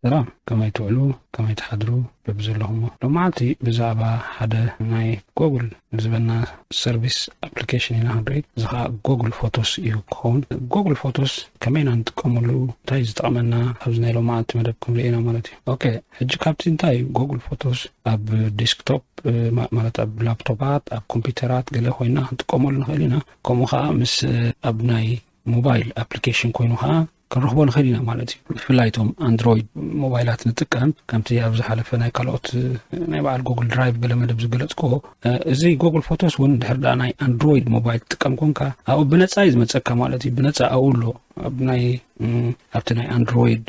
ሰላም ከመይ ትውዕሉ ከመይ ትሓድሩ በብዘለኹሞ ሎማዓልቲ ብዛዕባ ሓደ ናይ ጎግል ዝበና ሰርቪስ ኣፕሊኬሽን ኢና ክንርኢ እዚ ከዓ ጎግል ፎቶስ እዩ ክኸውን ጎግል ፎቶስ ከመይ ኢና ንጥቀመሉ እንታይ ዝጠቕመና ኣብዚ ናይ ሎማዓልቲ መደብ ክንርኢ ኢና ማለት እዩ ኦኬ ሕጂ ካብቲ እንታይ እዩ ጎግል ፎቶስ ኣብ ዴስክቶፕ ማለት ኣብ ላፕቶፓት ኣብ ኮምፒውተራት ገለ ኮይና ክንጥቀመሉ ንኽእል ኢና ከምኡ ከዓ ምስ ኣብ ናይ ሞባይል ኣፕሊኬሽን ኮይኑ ከዓ ክንረኽቦ ንኽእል ኢና ማለት እዩ ብፍላይ እቶም ኣንድሮይድ ሞባይላት ንጥቀም ከምቲ ኣብ ዝሓለፈ ናይ ካልኦት ናይ በዓል ጎግል ድራይቭ ገለ መደብ ዝገለፅክዎ እዚ ጎግል ፎቶስ እውን ድሕር ዳ ናይ ኣንድሮይድ ሞባይል ትጥቀም ኮንካ ኣብኡ ብነፃ እዩ ዝመፀካ ማለት እዩ ብነፃ ኣብኡ ኣሎ ኣብ ናይ ኣብቲ ናይ ኣንድሮይድ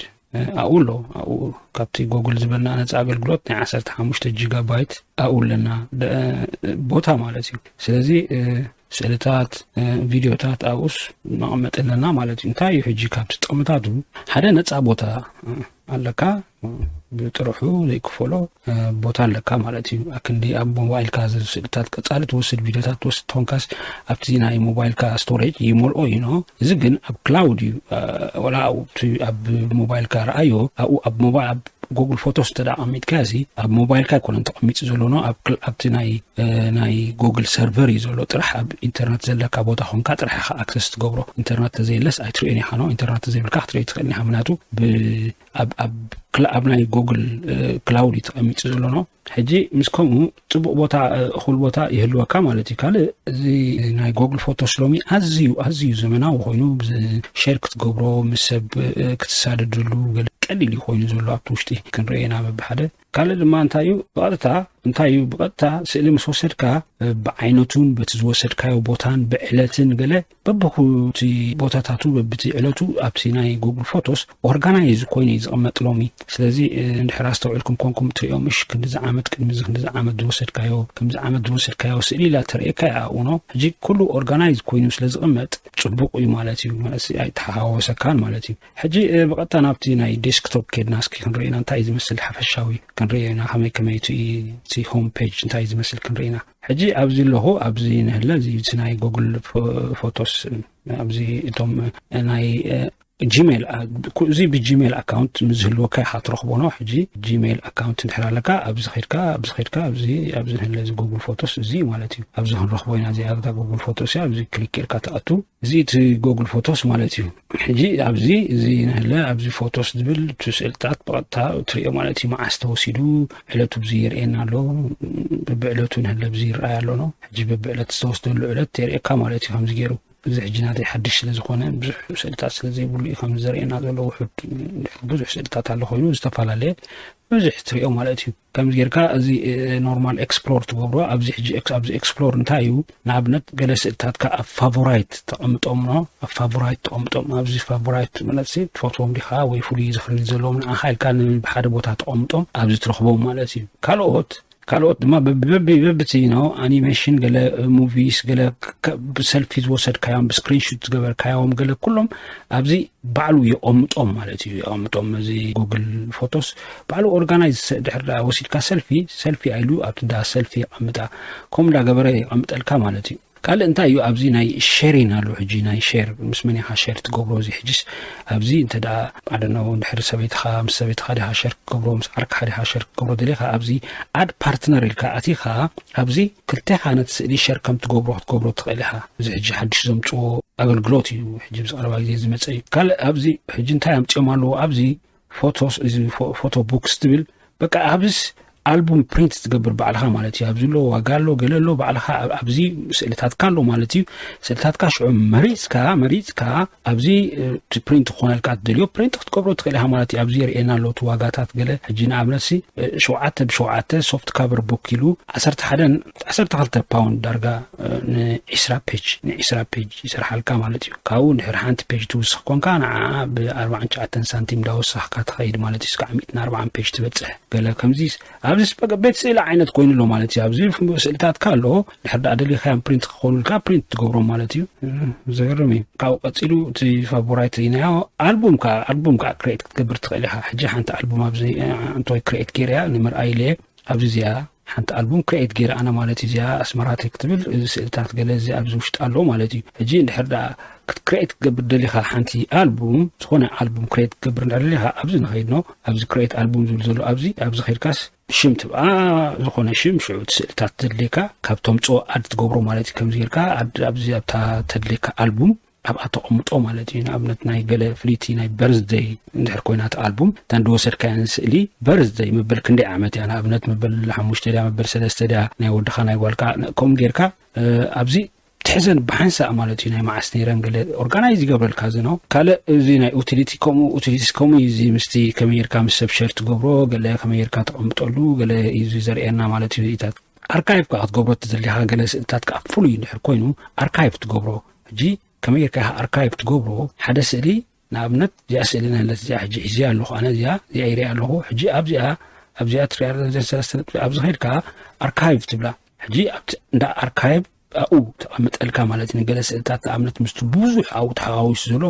ኣብኡ ኣሎ ኣብኡ ካብቲ ጎግል ዝበልና ነፃ ኣገልግሎት ናይ ዓሰርተ ሓሙሽተ ጂጋ ባይት ኣብኡ ኣለና ቦታ ማለት እዩ ስለዚ ስእልታት ቪድዮታት ኣብኡስ መቐመጢ ኣለና ማለት እዩ እንታይ እዩ ሕጂ ካብቲ ጥቕምታቱ ሓደ ነፃ ቦታ ኣለካ ብጥርሑ ዘይክፈሎ ቦታ ኣለካ ማለት እዩ ኣክንዲ ኣብ ሞባይልካ ዘሎ ስእልታት ቀጻሊ ትወስድ ቪድዮታት ትወስድ ተኾንካስ ኣብቲ ናይ ሞባይልካ ስቶሬጅ ይመልኦ እዩ ኖ እዚ ግን ኣብ ክላውድ እዩ ወላ ኣብ ሞባይልካ ረኣዮ ኣብኡ ኣብ ሞባይል ኣብ ጎግል ፎቶስ እንተ ኣቐሚጥካ እዚ ኣብ ሞባይልካ ኣይኮነን ተቐሚጡ ዘሎ ኖ ኣብቲ ናይ ናይ ጎግል ሰርቨር እዩ ዘሎ ጥራሕ ኣብ ኢንተርነት ዘለካ ቦታ ኮንካ ጥራሕ ኢኻ ኣክሰስ ትገብሮ ኢንተርነት ተዘየለስ ኣይትርእዮን ኢኻ ኖ ኢንተርነት ተዘይብልካ ክትርኢ ትኽእል ኢኻ ምክንያቱ ኣብ ናይ ጎግል ክላውድ እዩ ተቐሚጡ ዘሎኖ ሕጂ ምስ ከምኡ ፅቡቅ ቦታ እኹል ቦታ ይህልወካ ማለት እዩ ካልእ እዚ ናይ ጎግል ፎቶስ ሎሚ ኣዝዩ ኣዝዩ ዘመናዊ ኮይኑ ሸር ክትገብሮ ምስ ሰብ ክትሳደደሉ ቀሊል እዩ ኮይኑ ዘሎ ኣብቲ ውሽጢ ክንረኤና በብሓደ ካልእ ድማ እንታይ እዩ ብቐጥታ እንታይ እዩ ብቐጥታ ስእሊ ምስ ወሰድካ ብዓይነቱን በቲ ዝወሰድካዮ ቦታን ብዕለትን ገለ በብኩቲ ቦታታቱ በብቲ ዕለቱ ኣብቲ ናይ ጉግል ፎቶስ ኦርጋናይዝ ኮይኑ እዩ ዝቕመጥ ሎሚ ስለዚ እንድሕር ኣስተውዕልኩም ኮንኩም ትሪኦ ምሽ ክንዲዚ ዓመት ቅድሚዚ ክንዲዚ ዓመት ዝወሰድካዮ ከምዚ ዓመት ዝወሰድካዮ ስእሊ ኢላ ተርእየካ እያ ኣብኡ ኖ ሕጂ ኩሉ ኦርጋናይዝ ኮይኑ ስለ ዝቕመጥ ፅቡቕ እዩ ማለት እዩ ማለት ኣይተሓዋወሰካን ማለት እዩ ሕጂ ብቐጥታ ናብቲ ናይ ዴስክቶፕ ኬድና እስኪ ክንርኢ ኢና እንታይ ዝመስል ሓፈሻዊ ክንርኢ ኢና ከመይ ከመይ እቲ ሆም ፔጅ እንታይ ዝመስል ክንርኢ ኢና ሕጂ ኣብዚ ኣለኹ ኣብዚ ንህለ እዚ ናይ ጎግል ፎቶስ ኣብዚ እቶም ናይ ጂሜል እዚ ብጂሜል ኣካውንት ምስዝህልወካ ኢኻ ትረኽቦ ኖ ሕጂ ጂሜል ኣካውንት እንድሕር ኣለካ ኣብዚ ኸድካ ኣብዚ ኸድካ ኣብዚ ኣብዚ ንህለ እዚ ጎግል ፎቶስ እዚ ማለት እዩ ኣብዚ ክንረኽቦ ኢና እዚኣ ጎግል ፎቶስ እያ ኣብዚ ክሊክ ኢልካ ትኣቱ እዚ እቲ ጎግል ፎቶስ ማለት እዩ ሕጂ ኣብዚ እዚ ንህለ ኣብዚ ፎቶስ ዝብል እቲ ስእልታት ብቐጥታ እትሪኦ ማለት እዩ መዓስ ተወሲዱ ዕለቱ ብዚ የርእየና ኣሎ ብብዕለቱ ንህለ ብዚ ይረኣይ ኣሎ ኖ ሕጂ ብብዕለት ዝተወስደሉ ዕለት የርእየካ ማለት እዩ ከምዚ ገይሩ እዚ ሕጂ ናተይ ሓድሽ ስለ ዝኾነ ብዙሕ ስእልታት ስለ ዘይብሉ እዩ ከምዚ ዘርእየና ዘሎ ውሑድ ብዙሕ ስእልታት ኣሎ ኮይኑ ዝተፈላለየ ብዙሕ ትሪኦ ማለት እዩ ከምዚ ጌርካ እዚ ኖርማል ኤክስፕሎር ትገብሮ ኣብዚ ሕጂ ኣብዚ ኤክስፕሎር እንታይ እዩ ንኣብነት ገለ ስእልታትካ ኣብ ፋቮራይት ተቐምጦም ኖ ኣብ ፋቮራይት ተቐምጦም ኣብዚ ፋቮራይት መለሲ ትፈትዎም ዲኻ ወይ ፍሉይ ዝኽሪ ዘለዎም ንኣኻ ኢልካ ብሓደ ቦታ ተቐምጦም ኣብዚ ትረኽቦም ማለት እዩ ካልኦት ካልኦት ድማ በብቲ ኖ ኣኒሜሽን ገለ ሙቪስ ገለ ብሰልፊ ዝወሰድካዮም ብስክሪንሹት ዝገበርካዮም ገለ ኩሎም ኣብዚ ባዕሉ የቐምጦም ማለት እዩ የቐምጦም እዚ ጉግል ፎቶስ ባዕሉ ኦርጋናይዝ ድሕር ዳኣ ወሲድካ ሰልፊ ሰልፊ ኣይሉ ኣብቲ ዳስ ሰልፊ የቀምጣ ከምኡ ዳ ገበረ የቀምጠልካ ማለት እዩ ካልእ እንታይ እዩ ኣብዚ ናይ ሸሪን ኣሎ ሕጂ ናይ ሸር ምስ መን ኢኻ ሸር ትገብሮ እዚ ሕጂስ ኣብዚ እንተ ደኣ ኣደኖ ድሕሪ ሰበይትኻ ምስ ሰበይትኻ ዲኻ ሸር ክገብሮ ምስ ዓርክኻ ዲኻ ሸር ክገብሮ ደሊኻ ኣብዚ ኣድ ፓርትነር ኢልካ ኣቲኻ ኣብዚ ክልቴኻ ነቲ ስእሊ ሸር ከም ትገብሮ ክትገብሮ ትኽእል ኢኻ እዚ ሕጂ ሓድሽ ዘምፅዎ ኣገልግሎት እዩ ሕጂ ብዚ ቀረባ ግዜ ዝመፀ እዩ ካልእ ኣብዚ ሕጂ እንታይ ኣምፅኦም ኣለዎ ኣብዚ ፎቶስ እዚ ፎቶ ቡክስ ትብል በቃ ኣብዚስ ኣልቡም ፕሪንት ትገብር ባዕልኻ ማለት እዩ ኣብዚ ኣሎ ዋጋ ኣሎ ገለ ኣሎ ባዕልኻ ኣብዚ ስእልታትካ ኣሎ ማለት እዩ ስእልታትካ ሽዑ መሪፅካ መሪፅካ ኣብዚ ፕሪንት ክኾነልካ ትደልዮ ፕሪንት ክትገብሮ ትኽእል ኢኻ ማለት እዩ ኣብዚ የርእየና ኣሎ እቲ ዋጋታት ገለ ሕጂ ንኣብነት ሲ ሸውዓተ ብሸውዓተ ሶፍት ካቨር ቦክ ኢሉ ዓሰርተ ሓደን ዓሰርተ ክልተ ፓውንድ ዳርጋ ንዒስራ ፔጅ ንዒስራ ፔጅ ይሰርሓልካ ማለት እዩ ካብኡ ድሕሪ ሓንቲ ፔጅ ትውስኽ ኮንካ ንዓኣ ብኣርባዓን ትሽዓተን ሳንቲም ዳወሳኽካ ትኸይድ ማለት እዩ ስካዕ ሚእትን ኣርባዓን ፔጅ ትበፅሕ ገለ ከምዚ ኣብዚ ቤት ስእሊ ዓይነት ኮይኑ ኣሎ ማለት እዩ ኣብዚ ስእልታትካ ኣለዎ ድሕር ዳኣ ደሊኻዮም ፕሪንት ክኾኑልካ ፕሪንት ትገብሮም ማለት እዩ ዘገርም እዩ ካብኡ ቀፂሉ እቲ ፋቮራይት ኢናዮ ኣልቡም ከዓ ኣልቡም ከዓ ክሬት ክትገብር ትኽእል ኢኻ ሕጂ ሓንቲ ኣልቡም ኣብዚ እንቶይ ክሬት ገይረያ ንምርኣይ ኢለየ ኣብዚ እዚኣ ሓንቲ ኣልቡም ክሬኤት ጌረ ኣነ ማለት እዩ እዚኣ ኣስመራ ትሪክ ትብል እዚ ስእልታት ገለ እዚ ኣብዚ ውሽጢ ኣለዎ ማለት እዩ ሕጂ እንድሕር ደኣ ክትክሬኤት ክትገብር ደሊኻ ሓንቲ ኣልቡም ዝኾነ ኣልቡም ክሬኤት ክትገብር እንድሕር ደሊኻ ኣብዚ ንኸይድ ኖ ኣብዚ ክሬኤት ኣልቡም ዝብል ዘሎ ኣብዚ ኣብዚ ከይድካስ ሽም ትብኣ ዝኾነ ሽም ሽዑ እቲ ስእልታት ዘድልየካ ካብ ተምፅኦ ኣድ ትገብሮ ማለት እዩ ከምዚ ጌርካ ኣድ ኣብዚ ኣብታ ተድልየካ ኣልቡም ኣብኣ ተቐምጦ ማለት እዩ ንኣብነት ናይ ገለ ፍልይቲ ናይ በርዝደይ እንድሕር ኮይና እቲ ኣልቡም እታ እንደወሰድካያን ስእሊ በርዝደይ መበል ክንደይ ዓመት እያ ንኣብነት መበል ሓሙሽተ ድያ መበል ሰለስተ ድያ ናይ ወድኻ ናይ ጓልካ ከምኡ ጌርካ ኣብዚ ትሕዘን ብሓንሳእ ማለት እዩ ናይ መዓስ ነይረን ገለ ኦርጋናይዝ ይገብረልካ እዚ ነው ካልእ እዚ ናይ ዩቲሊቲ ከምኡ ዩቲሊቲስ ከምኡ እዩ እዚ ምስቲ ከመይ ጌርካ ምስ ሰብ ሸር ትገብሮ ገለ ከመይ ጌርካ ተቐምጠሉ ገለ እዩ ዘርእየና ማለት እዩ ርኢታት ኣርካይቭ ከዓ ክትገብሮ ተዘሊኻ ገለ ስእልታት ከዓ ፍሉይ እንድሕር ኮይኑ ኣርካይቭ ትገብሮ ሕጂ ከመይ ጌርካ ኢኻ ኣርካይቭ ትገብሮ ሓደ ስእሊ ንኣብነት እዚኣ ስእሊ ንህለት እዚኣ ሕጂ ሒዘያ ኣለኹ ኣነ እዚኣ እዚኣ ይሪኣ ኣለኹ ሕጂ ኣብዚኣ ኣብዚኣ ትሪኣ ኣብዚኣ ሰለስተ ነጥቢ ኣብዚ ኸድካ ኣርካይቭ ትብላ ሕጂ ኣብቲ እንዳ ኣርካይቭ ኣብኡ ተቐምጠልካ ማለት ንገለ ስእልታት ንኣብነት ምስቲ ብዙሕ ኣብኡ ተሓዋዊሱ ዘሎ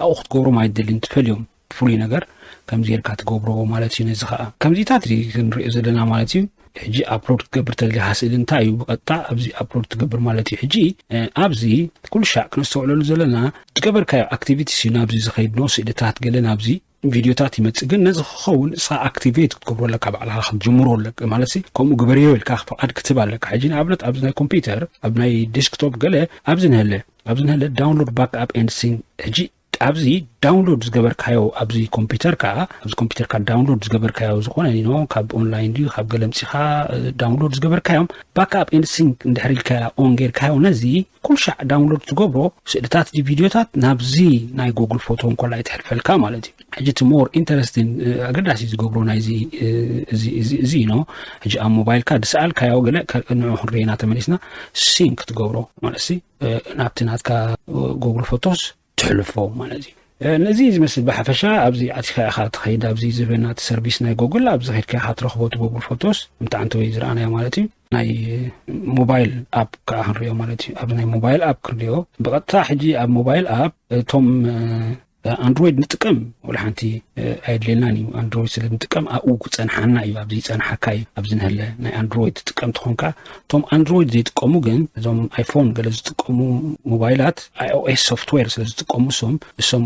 ኣብኡ ክትገብሮም ኣይደልን ትፈልዮም ፍሉይ ነገር ከምዚ ጌርካ ትገብሮ ማለት እዩ ነዚ ከዓ ከምዚታት እዚ ክንሪኦ ዘለና ማለት እዩ ሕጂ ኣፕሎድ ክትገብር ተደሊኻ ስእሊ እንታይ እዩ ብቐጥታ ኣብዚ ኣፕሎድ ትገብር ማለት እዩ ሕጂ ኣብዚ ኩሉ ሻዕ ክነስተውዕለሉ ዘለና ዝገበርካዮ ኣክቲቪቲስ እዩ ናብዚ ዝኸይድ ኖ ስእልታት ገለ ናብዚ ቪድዮታት ይመፅእ ግን ነዚ ክኸውን ንስኻ ኣክቲቬት ክትገብሮ ኣለካ ባዕልኻ ክትጅምሮ ኣለካ ማለት ከምኡ ግበርዮ ኢልካ ፍቓድ ክትህብ ኣለካ ሕጂ ንኣብነት ኣብዚ ናይ ኮምፒውተር ኣብ ናይ ዴስክቶፕ ገለ ኣብዚ ንህለ ኣብዚ ንህለ ዳውንሎድ ባክ ኣፕ ኤንድ ሲን ሕጂ ኣብዚ ዳውንሎድ ዝገበርካዮ ኣብዚ ኮምፒተርካ ኣብዚ ኮምፒተርካ ዳውንሎድ ዝገበርካዮ ዝኾነ ኖ ካብ ኦንላይን ድዩ ካብ ገለ ምፂኻ ዳውንሎድ ዝገበርካዮም ባክኣፕ ኤንድ ሲንክ እንድሕር ኢልካ ኦን ጌርካዮ ነዚ ኩልሻዕ ዳውንሎድ ትገብሮ ስእልታት ዲ ቪድዮታት ናብዚ ናይ ጎግል ፎቶ እንኮላ ይትሕልፈልካ ማለት እዩ ሕጂ እቲ ሞር ኢንተረስትን ኣገዳሲ ዝገብሮ ናይዚ እዚ ኖ ሕጂ ኣብ ሞባይልካ ድሰኣልካዮ ገለ ንዑ ክንርኤና ተመሊስና ሲንክ ትገብሮ ማለት ናብቲ ናትካ ጎግል ፎቶስ ትሕልፎ ማለት እዩ ነዚ ዝመስል ብሓፈሻ ኣብዚ ኣቲኻ ኢኻ ትኸይድ ኣብዚ ዝበና እቲ ሰርቪስ ናይ ጎግል ኣብዚ ከድካ ኢኻ ትረኽቦ እቲ ጎግል ፎቶስ ምታዓንቲ ወይ ዝረኣናዮ ማለት እዩ ናይ ሞባይል ኣብ ከዓ ክንሪኦ ማለት እዩ ኣብዚ ናይ ሞባይል ኣብ ክንሪኦ ብቐጥታ ሕጂ ኣብ ሞባይል ኣብ እቶም ኣንድሮይድ ንጥቀም ወላ ሓንቲ ኣየድልየናን እዩ ኣንድሮይድ ስለ ንጥቀም ኣብኡ ክፀንሓና እዩ ኣብዚ ይፀንሓካ እዩ ኣብዚ ንህለ ናይ ኣንድሮይድ ትጥቀም ትኾንካ እቶም ኣንድሮይድ ዘይጥቀሙ ግን እዞም ኣይፎን ገለ ዝጥቀሙ ሞባይላት ኣይኦኤስ ሶፍትዌር ስለ ዝጥቀሙ እሶም እሶም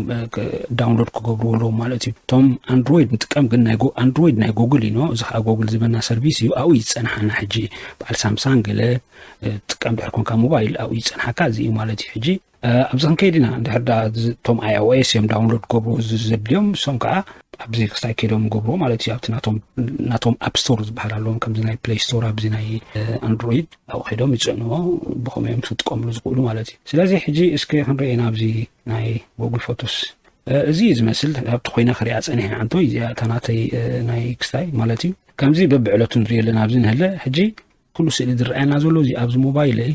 ዳውንሎድ ክገብርዎ ኣለዎም ማለት እዩ እቶም ኣንድሮይድ ንጥቀም ግን ናይ ኣንድሮይድ ናይ ጎግል እዩ እዚ ከዓ ጎግል ዝበና ሰርቪስ እዩ ኣብኡ ይፀንሓና ሕጂ በዓል ሳምሳንግ ገለ ትጥቀም ድሕር ኮንካ ሞባይል ኣብኡ ይፀንሓካ እዚ እዩ ማለት እዩ ሕጂ ኣብዚ ክንከይድ ኢና እንድሕር ዳ እቶም iOS እዮም ዳውንሎድ ክገብሩ እዚ ዘድልዮም እሶም ከዓ ኣብዚ ክስታይ ከይዶም ገብርዎ ማለት እዩ ኣብቲ ናቶም ኣፕ ስቶር ዝበሃል ኣለዎም ከምዚ ናይ ፕሌይ ስቶር ኣብዚ ናይ ኣንድሮይድ ኣብኡ ከይዶም ይፅዕንዎ ብከመ እዮም ክጥቀምሉ ዝኽእሉ ማለት እዩ ስለዚ ሕጂ እስኪ ክንርኢ ኢና ኣብዚ ናይ ጎግል ፎቶስ እዚ እዩ ዝመስል ኣብቲ ኮይነ ክሪኣ ፀኒሐ ዓንቶ እዚኣ እታ ናተይ ናይ ክስታይ ማለት እዩ ከምዚ በብዕለቱ ንሪኦ ኣለና ኣብዚ ንህለ ሕጂ ኩሉ ስእሊ ዝረኣየና ዘሎ እዚ ኣብዚ ሞባይለይ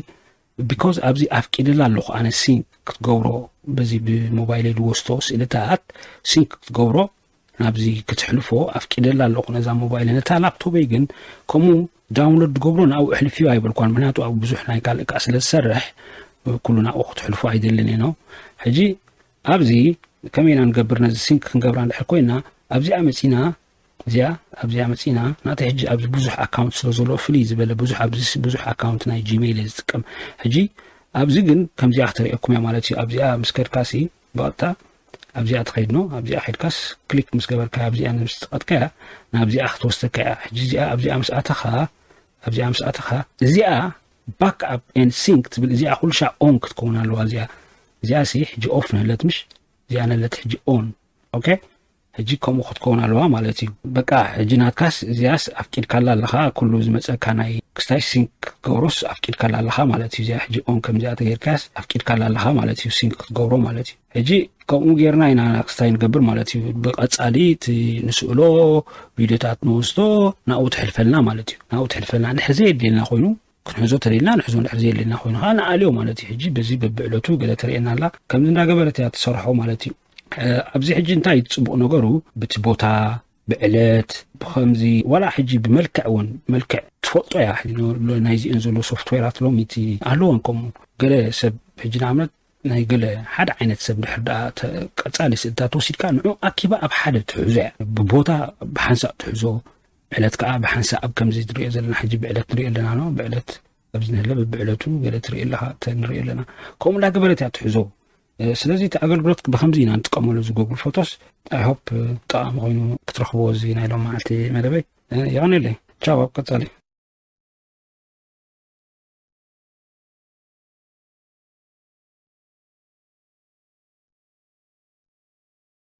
ቢኮዝ ኣብዚ ኣፍቂደላ ኣለኹ ኣነ ሲንክ ክትገብሮ በዚ ብሞባይለይ ዝወስቶ ስእልታት ሲንክ ክትገብሮ ናብዚ ክትሕልፎ ኣፍቂደላ ኣለኹ ነዛ ሞባይለ ነታ ላፕቶበይ ግን ከምኡ ዳውንሎድ ዝገብሮ ናብኡ እሕልፍዮ ኣይበልኳን ምክንያቱ ኣብ ብዙሕ ናይ ካልእ ከዓ ስለ ዝሰርሕ ኩሉ ናብኡ ክትሕልፎ ኣይደልን ኢኖ ሕጂ ኣብዚ ከመይ ኢና ንገብር ነዚ ሲንክ ክንገብራ እንድሕር ኮይና ኣብዚኣ መፂና እዚኣ ኣብዚኣ መጺና ናተይ ሕጂ ኣብዚ ብዙሕ ኣካውንት ስለ ዘለዎ ፍልይ ዝበለ ብዙሕ ኣብዚ ብዙሕ ኣካውንት ናይ ጂሜይል እየ ዝጥቀም ሕጂ ኣብዚ ግን ከምዚኣ ክትርእየኩም እያ ማለት እዩ ኣብዚኣ ምስ ከድካሲ ብቐጥታ ኣብዚኣ ትኸይድ ኖ ኣብዚኣ ኸድካስ ክሊክ ምስ ገበርካ ኣብዚኣ ምስ ጸቐጥካያ ናብዚኣ ክትወስደካ እያ ሕጂ እዚኣ ኣብዚኣ ምስ ኣተኻ ኣብዚኣ ምስ ኣተኻ እዚኣ ባክ ኣፕ ኤንድ ሲንክ ትብል እዚኣ ኩልሻ ኦን ክትከውን ኣለዋ እዚኣ እዚኣ ሲ ሕጂ ኦፍ ነለት ምሽ እዚኣ ነለት ሕጂ ኦን ኦኬ ሕጂ ከምኡ ክትከውን ኣለዋ ማለት እዩ በቃ ሕጂ ናትካስ እዚኣስ ኣፍቂድካላ ኣለኻ ኩሉ ዝመጸካ ናይ ክስታይ ሲንክ ክትገብሮስ ኣፍቂድካላ ኣለኻ ማለት እዩ እዚኣ ሕጂ ኦን ከምዚኣ ተገይርካያስ ኣፍቂድካላ ኣለኻ ማለት እዩ ሲንክ ክትገብሮ ማለት እዩ ሕጂ ከምኡ ጌርና ኢና ክስታይ ንገብር ማለት እዩ ብቐጻሊ እቲ ንስእሎ ቪድዮታት ንወስዶ ናብኡ ትሕልፈልና ማለት እዩ ናብኡ ትሕልፈልና እንድሕር ዘየድልየልና ኮይኑ ክንሕዞ ተለልና ንሕዞ እንድሕር ዘየለና ኮይኑ ከዓ ንኣልዮ ማለት እዩ ሕጂ በዚ በብዕለቱ ገለ ተርእየና ኣላ ከምዚ እንዳገበረት እያ ትሰርሖ ማለት እዩ ኣብዚ ሕጂ እንታይ እዩ ፅቡቅ ነገሩ ብቲ ቦታ ብዕለት ብከምዚ ዋላ ሕጂ ብመልክዕ እውን መልክዕ ትፈልጦ እያ ናይዚኤን ዘሎ ሶፍትዌራት ሎሚቲ ኣለዎን ከምኡ ገለ ሰብ ሕጂ ንኣብነት ናይ ገለ ሓደ ዓይነት ሰብ ድሕር ደኣ ቀፃሊ ስእልታት ወሲድካ ንዑ ኣኪባ ኣብ ሓደ ትሕዞ እያ ብቦታ ብሓንሳእ ትሕዞ ዕለት ከኣ ብሓንሳእ ኣብ ከምዚ ትሪኦ ዘለና ሕጂ ብዕለት ንሪኦ ኣለና ኖ ብዕለት ኣብዚ ንህለ ብብዕለቱ ገለ ትርኢ ኣለኻ ንሪኦ ኣለና ከምኡ እንዳገበረት እያ ትሕዞ ስለዚ እቲ ኣገልግሎት ብከምዚ ኢና ንጥቀመሉ እዚ ጎግል ፎቶስ ኣይሆፕ ጠቃሚ ኮይኑ ክትረኽብዎ እዚ ናይ ሎም መዓልቲ መደበይ የቀኒለይ ቻው ኣብ ቀጻሊ